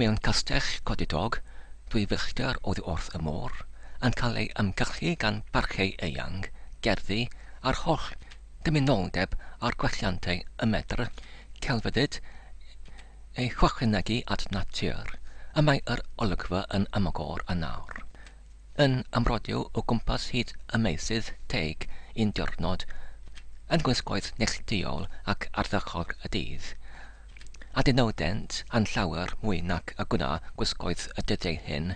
Mewn castell codidog, dwy filltir oddi wrth y môr, yn cael ei ymgylchu gan barciau eang, gerddi a'r holl gymunoldeb a'r gwelliantau y medr celfyddyd eu hychwanegu at natur, y mae yr olygfa yn amogor a nawr yn amrodio o gwmpas hyd y meysydd teig un diwrnod yn gwisgoedd neillduol ac ardderchog y dydd, a dynodent yn llawer mwy nac y gwna gwisgoedd y dyddiau hyn,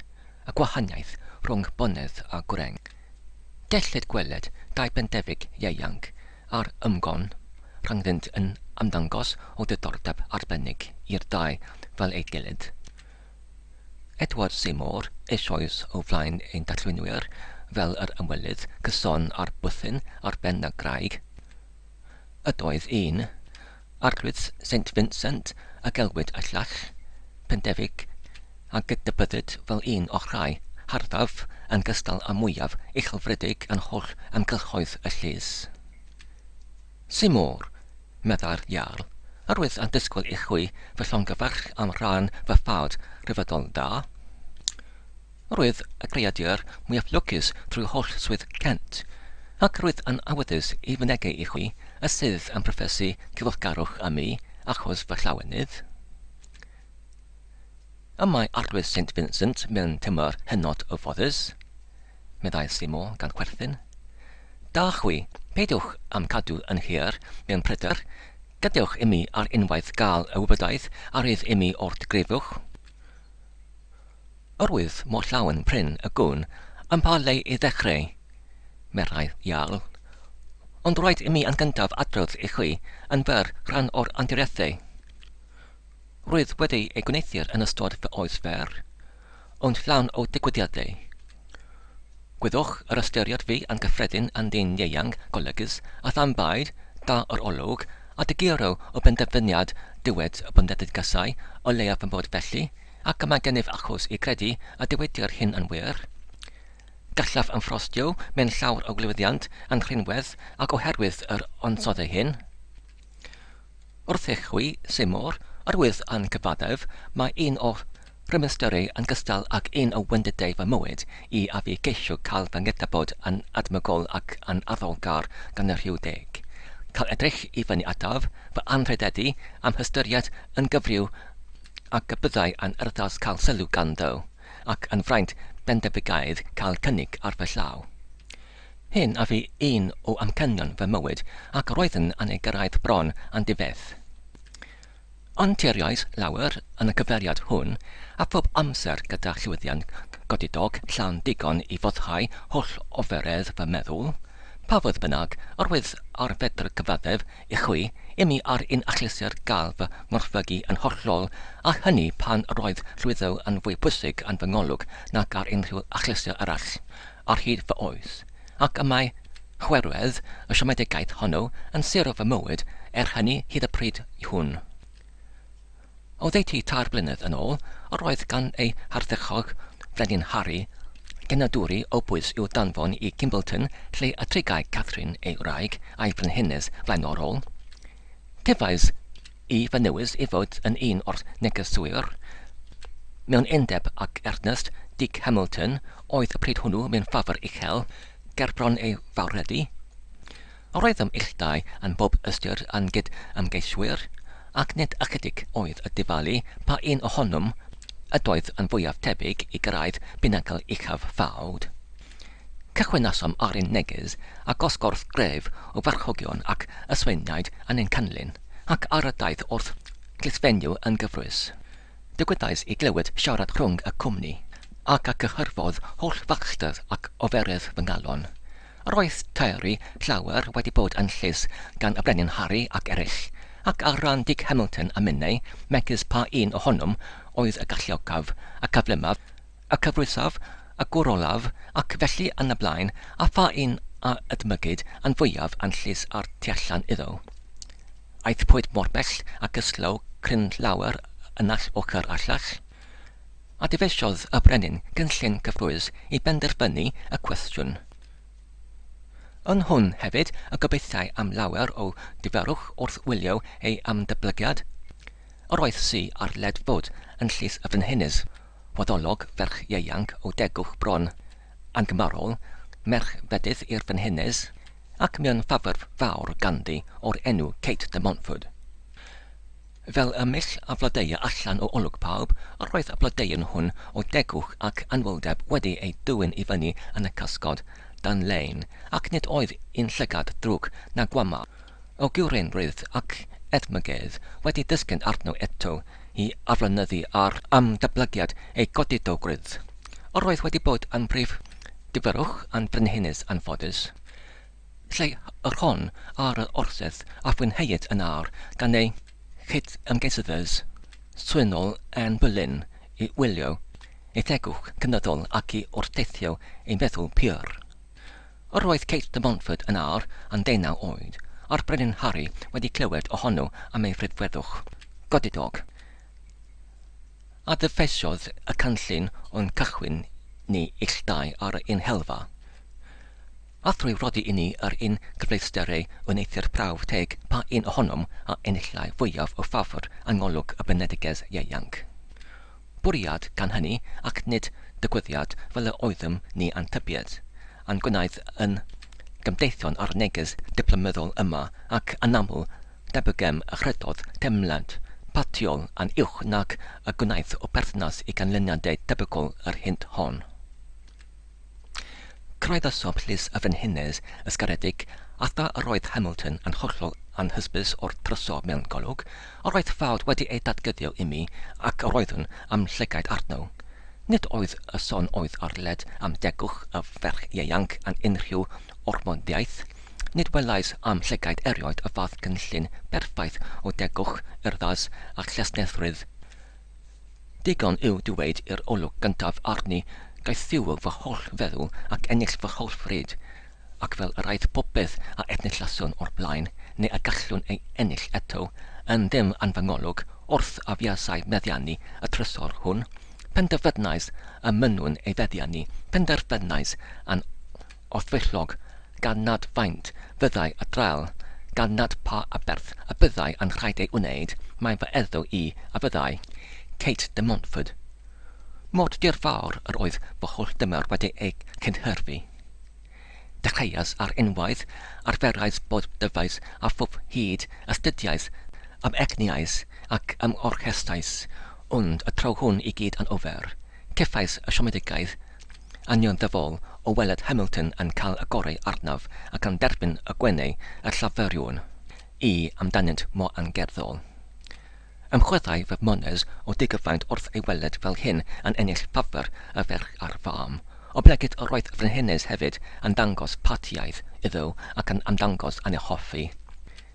y gwahaniaeth rhwng bonedd a gwreng. Gellid gweled dau bendefic ieuanc ar ymgon rhyngddynt yn ymddangos o ddiddordeb arbennig i'r dau fel ei gilydd. Edward Seymour eisoes o flaen ein darlunwyr fel yr ymwelydd cyson â'r bwthyn ar ben y graig. Ydoedd un, Arglwydd Saint Vincent a gelwid y llall, Pendefig, a gydnabyddid fel un o'r rhai harddaf yn gystal â mwyaf uchelfrydig yn holl amgylchoedd y llys. Symor, meddai'r Iarl, yr oedd yn disgwyl i chwi fy llongyfarch am ran fy ffawd rhyfeddol da. Roedd y creadur mwyaf lwcus drwy holl swydd Kent, ac roedd yn awyddus i fynegi i chwi y sydd yn proffesu cyfeillgarwch â mi achos fy llawenydd. Y mae Arglwydd Saint Vincent mewn tymor hynod o foddus, meddai Seymour gan chwerthin. Da chwi, peidiwch â'm cadw yn hir mewn pryder, gadewch imi ar unwaith gael y wybodaeth a rydd imi o'r digrifwch. Oherwydd mor llawen prin y gwn i'm pa le i ddechreu, meddai Jarl. Ond rhaid imi yn gyntaf adrodd i chi yn fer rhan o'r anturiaethau. Rwyf wedi eu gwneuthur yn ystod fy oes fer, ond llawn o ddigwyddiadau. Gwyddwch yr ystyried fi yn gyffredin yn ddyn ieuanc golygus a tham byd, da o'r olwg, a diguro o benderfyniad diwedd y bundeddigasau, o leiaf fy mod felly, ac mae gennyf achos i gredu y dywedir hyn yn wir. Gallaf ymffrostio mewn llawr o glywyddiant yn rhinwedd ac oherwydd yr ansodde hyn. Wrth i chwi, Seymour, yr wyf yn cyfaddef, mae un o rymystyrau yn gystal ag un o wendidau fy mywyd i a fi geisio cael fy nghydnabod yn edmygol ac yn arddolgar gan y rhyw deg, cael edrych i fyny ataf, fy anrhydeddu a'm hystyried yn gyfryw ac y byddai yn erddas cael sylw ganddo, ac yn fraint bendefigaeth cael cynnig ar fy llaw. Hyn a fu un o amcanion fy mywyd, ac roeddwn yn ei gyrraedd bron yn difeth. Ond teiriais lawer yn y cyfeiriad hwn, a phob amser gyda llwyddiant godidog llawn digon i foddhau holl oferedd fy meddwl, pa fodd bynnag, yr oedd ar fedr cyfaddef I chwi, imi ar un achlysur gall fy ngorfygu yn hollol, a hynny pan roedd llwyddo yn fwy pwysig yn fy ngolwg nag ar unrhyw achlysur arall ar hyd fy oes, ac y mae chwerwedd y siomedigaeth honno yn sero fy mywyd er hynny hyd y pryd hwn. Oddeutu tair blynedd yn ôl, yr oedd gan ei hardderchog, Brenin Harry, genadwri o bwys i'w danfon i Gimbleton lle y trigai Catherine, ei wraig, a'i frenhines flaenorol. Cefais i fy newis i fod yn un o'r negeswyr mewn undeb ag Ernest Dick Hamilton, oedd y pryd hwnnw mewn ffafr uchel, gerbron ei fawrhydi. Roedd fy mhilltau yn bob ystyr yn gyd-ymgeiswyr, ac nid ychydig oedd y dyfalu pa un ohonwm ydoedd yn fwyaf tebyg i gyrraedd binacl uchaf ffawd. Cychwynasom ar ein neges â gosgorth gref o farchogion ac ysweiniaid yn ein canlyn, ac ar y daith wrth glusfenyw yn gyfrwys, digwyddais i glywed siarad rhwng y cwmni, ac a gyhyrfodd holl fachder ac oferedd fy ngalon, Roedd Terry llawer wedi bod yn llys gan y Brenin Harry ac eraill, ac ar ran Dic Hamilton a minnau, megis pa un ohonom oedd y galluogaf, y cyflymaf, y cyfrwysaf, y gwr olaf, ac felly yn y blaen, a pha un a ydmygid yn fwyaf yn llys a'r tu allan iddo. Aethpwyd mor bell ac ysglaw cryn llawer yn all ochr a llall. A dyfeisiodd y brenin gynllun cyffrous i benderfynu y cwestiwn. Yn hwn hefyd y gobeithiai am lawer o ddiferwch wrth wylio ei ymdyblygiad. Yr oedd si ar led fod yn llys y frenhines, waddolog ferch ieuanc o degwch bron, angymharol, merch fedydd i'r frenhines, ac mewn ffafr fawr ganddi o'r enw Kate de Montford. Fel y mill a flodeuai allan o olwg pawb, yr oedd y blodeuyn hwn o degwch ac anwyldeb wedi ei dwyn i fyny yn y cysgod, dan lein, ac nid oedd un llygad drwg na gwamau o gywreinrwydd ac edmygedd wedi disgyn arno eto i aflonyddu ar ymdablygiad ei godidowgrwydd. Yr oedd wedi bod yn brif gyfyrwch yn frenhines anffodus. lle yr hon ar yr orsedd a fwynheid yn awr gan ei chyd-ymgeiswyr swynol Anne Boleyn i wylio ei thegwch cynyddol ac i wrteithio ei feddwl pur. Yr oedd Kate de Montfort yn awr yn ddeunaw oed, a'r Brenin Harri wedi clywed ohono am ei frydferwch godidog, a ddyfeisiodd y canllun o'n cychwyn ni ill dau ar ein helfa. A thrwy rhoddi i ni yr un gyfleusterau wneuthur prawf teg pa un ohonom a enillai fwyaf o ffafr yng ngolwg y Benedigaeth ieuanc. Bwriad gan hynny, ac nid dygwyddiad fel y oeddym ni a'n tybied, a'n gwnaed yn gymdeithion ar y neges diplomyddol yma, ac anaml, debygem y chredodd teimlad patiol yn uwch nag y gwnaeth o berthynas i ganlyniadau tebygol yr hynt hon. Cyraeddasom Llys y Frenhines ysgaredig, a thra yr oedd Hamilton yn hollol anhysbys o'r drysor mewn golwg, yr oedd ffawd wedi ei dadgyddio imi, ac yr oeddwn a'm llygaid arno. Nid oedd y son oedd ar led am degwch y ferch ieuanc yn unrhyw ormodiaeth, nid welais a'm llygaid erioed y fath gynllun berffaith o degwch, urddas, a chesnethrwydd. Digon yw dweud i'r olwg gyntaf arni gaethiwo fy holl feddwl ac ennill fy holl fryd, ac fel yr aeth popeth a enillaswn o'r blaen, neu a gallwn ei ennill eto, yn ddim yn fy ngolwg, wrth a fuasai meddiannu y trysor hwn, penderfynais y mynnwn ei feddiannu, penderfynais yn Os fillog, gan nad faint fyddai a draul, gan nad pa aberth a byddai a'n rhaid ei wneud, mae fy eddyw i a fyddai, Kate de Montford. Mor dirfawr yr oedd fy holl dymor wedi ei cynhyrfu. Dechreuais ar unwaith, arferais bob dyfais a phob hud, astudiais, amegniais ac ymorchestais, ond y tro hwn i gyd anghofir, cefais y siomedigaeth, Union dyfal o weled Hamilton yn cael y gorau arnaf ac yn derbyn y gwenau y Llafuriwn i amdanynt mor angerddol. Ymchwilai fy mhones o digyfaint wrth ei weled fel hyn yn ennill ffafr y ferch a'r fam. Oblegid yr oedd Frenhines hefyd yn dangos partiaith iddo ac yn ymddangos yn ei hoffi.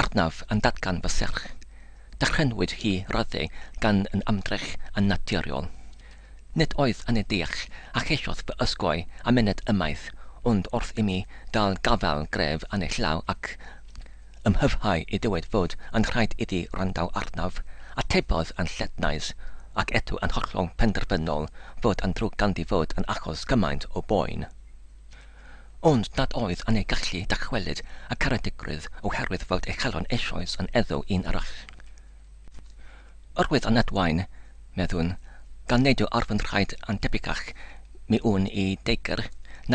Arnaf yn datgan fy serch. Dychrynwyd hi ryddhau gan yn ymdrech yn naturiol. Nid oedd yn ei deall a cheisiodd fy ysgoi a myned ymaith, ond wrth imi gael gafael gref yn ei llaw ac ymhyfhau i ddywed fod yn rhaid iddi wrandau arnaf, atebodd yn llednais ac eto yn hollol penderfynol fod yn ddrwg ganddi fod yn achos cymaint o boen. Ond nad oedd yn ei gallu dychwelyd y caredigrwydd oherwydd fod ei chalon eisoes yn eddyw un arall. Yr oedd yn adwaen, meddwn, gan neidio ar fy nhraed yn debycach mi wn i deigr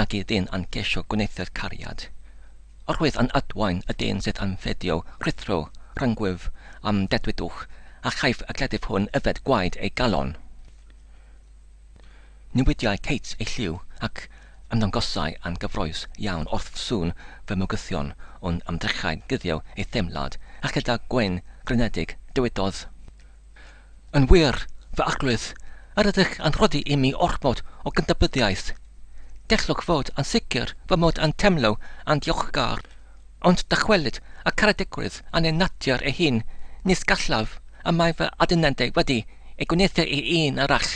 nag i ddyn yn ceisio gwneuthur cariad. Yr oedd yn adwaen y dyn sydd yn ffedio rhuthro rhyngwyf a'm dedwyddwch, a chaiff y cleddyf hwn yfed gwaed ei galon. Newidiai Kate ei lliw ac ymddangosai yn gyffrous iawn wrth sŵn fy mygythion ond am drechau guddiodd ei theimlad, a chyda gwên grynedig, dywedodd, Yn wir, fy Arglwydd, yr ydych yn rhoddi i mi ormod o gydnabyddiaeth. Gellwch fod yn sicr fy mod yn teimlo yn ddiolchgar. Ond dychwelyd y caredigwydd a neu natur ei hun, nis gallaf, y mae fy adunendau wedi ei gwneuthur i un arall.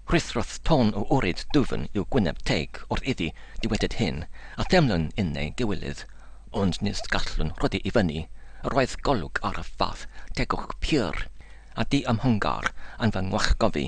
Rhuthrodd tôn o wryd dwfn i'w gwyneb teg wrth iddi ddywedyd hyn, a theimlwn yn neu giwylydd, ond nis gallwn rhoddi i fyny, yr oedd golwg ar y fath tegwch pur a di-ymhongar yn fy ngwallgofi.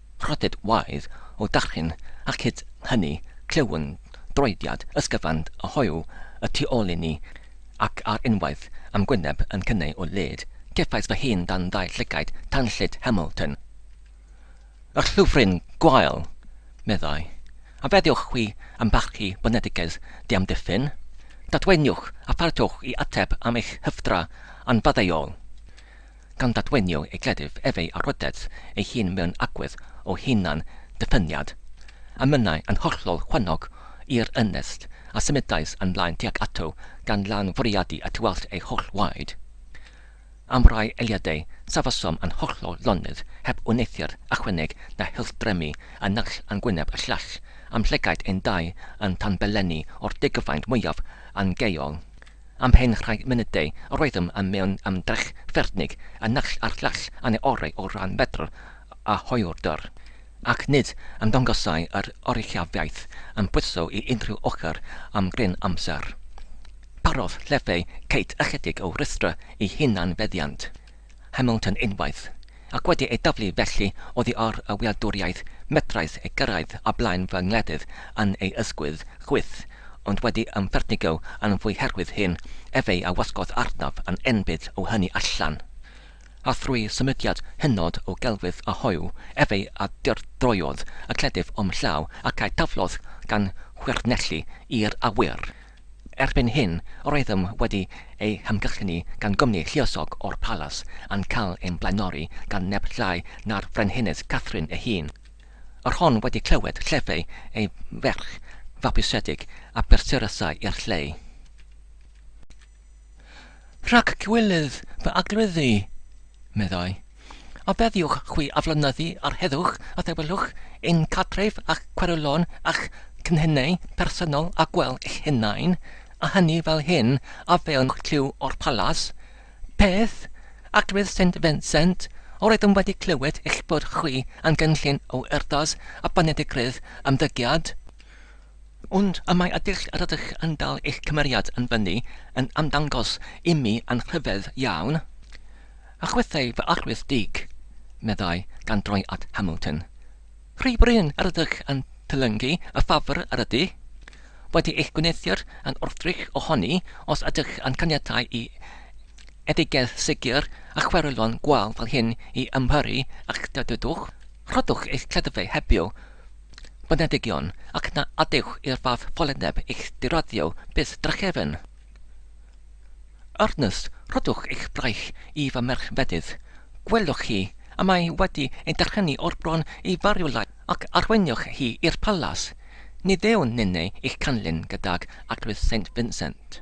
Rhyddid oedd o darllen ac hyd hynny clyw'n droediad ysgyfand a hoyw y tu ôl i ni ac ar unwaith a'm gwyneb yn cynnau o led, cefais fy hun dan ddau llygaid tanllyd Hamilton. Y llyfryn gwael! meddai. A feddiwch chwi ymfalchï boneddigedd diamddiffyn? Dadwaeniwch a pharhewch i ateb am eich hyfdra anfaddeuol. gan ddadwenio ei gleddyf ef ei arwydedd ei hun mewn agwedd o hunan ddiffyniad, a mynnai yn hollol chwannog i'r ynest, a symudais yn mlaen tuag ato gan lan fwriadu at weld ei holl waed. Am rai eiliadau safesom yn hollol lonydd, heb wneuthur ychwaneg na hildremu y naill yn gwyneb y llall, am llygaid ein dau yn tanbelennu o'r degfraint mwyaf angeuol. Am hen rai munudau, roeddem yn mewn ymdrech ffyrnig y naill a'r llall yn ei orau o ran medr a hoywder, ac nid ymddangosai yr oruchafiaeth yn pwyso i unrhyw ochr am gryn amser. Parodd llefau Kate ychydig o rwystr i hunan-feddiant. Hamilton unwaith, ac wedi ei daflu felly oddi ar y wladwriaeth, medrais ei gyrraedd o blaen fy ngwledydd yn ei ysgwydd chwith, ond wedi ymfertigo yn fwy herwydd hyn efeu a wasgodd arnaf yn enbyd o hynny allan. A thrwy symudiad hynod o gelfydd a hoyw efeu a dyrdroiodd y cleddyf o'm llaw ac a'i taflodd gan chwyrnellu i'r awyr. Erbyn hyn, roeddem wedi ei hamgylchynu gan gwmni lluosog o'r palas a'n cael ein blaenori gan neb llai na'r Frenhines Catherine ei hun. Yr hon wedi clywed llefai ei ferch fabwysiedig a brysurasai i'r lleu. Rhag cywilydd fy arglwydd i, meddai, a feddiwch chwi aflonyddu ar heddwch a thawelwch ein cartref a'ch cweryllon a'ch cynhenau personol a gwell eich hunain, a hynny fel hyn a fewn clyw o'r palas? Peth, arglwydd Saint Vincent, yr oeddwn wedi clywed eich bod chwi am gynllun o urddas a boneddigrwydd ymddygiad. Ond y mae y dull rydych yn dal eich cymeriad yn fyny yn ymddangos imi yn rhyfedd iawn. A chwythai fy arwydd dig, meddai, gan droi at Hamilton. Rhy brin yr ydych yn tylyngu y ffafr yr ydy wedi eich gwneuthur yn wrthrych ohoni os ydych yn caniatáu i eddygedd segur a chwerylon gwâl fel hyn i ymyrru a'ch dydydwch. Rhoddwch eich cleddyfau hebio Boneddigion, ac na adewch i'r fath foleneb eich diraddio byth drachefn. Ernest, rhoddwch eich braich i fy merch fedydd. Gwelwch chi, y mae wedi ei drychynu o'r bron i fariwlau, ac arweinioch hi i'r palas. Ni ddewn ninne eich canlyn gydag Arglwydd Saint Vincent.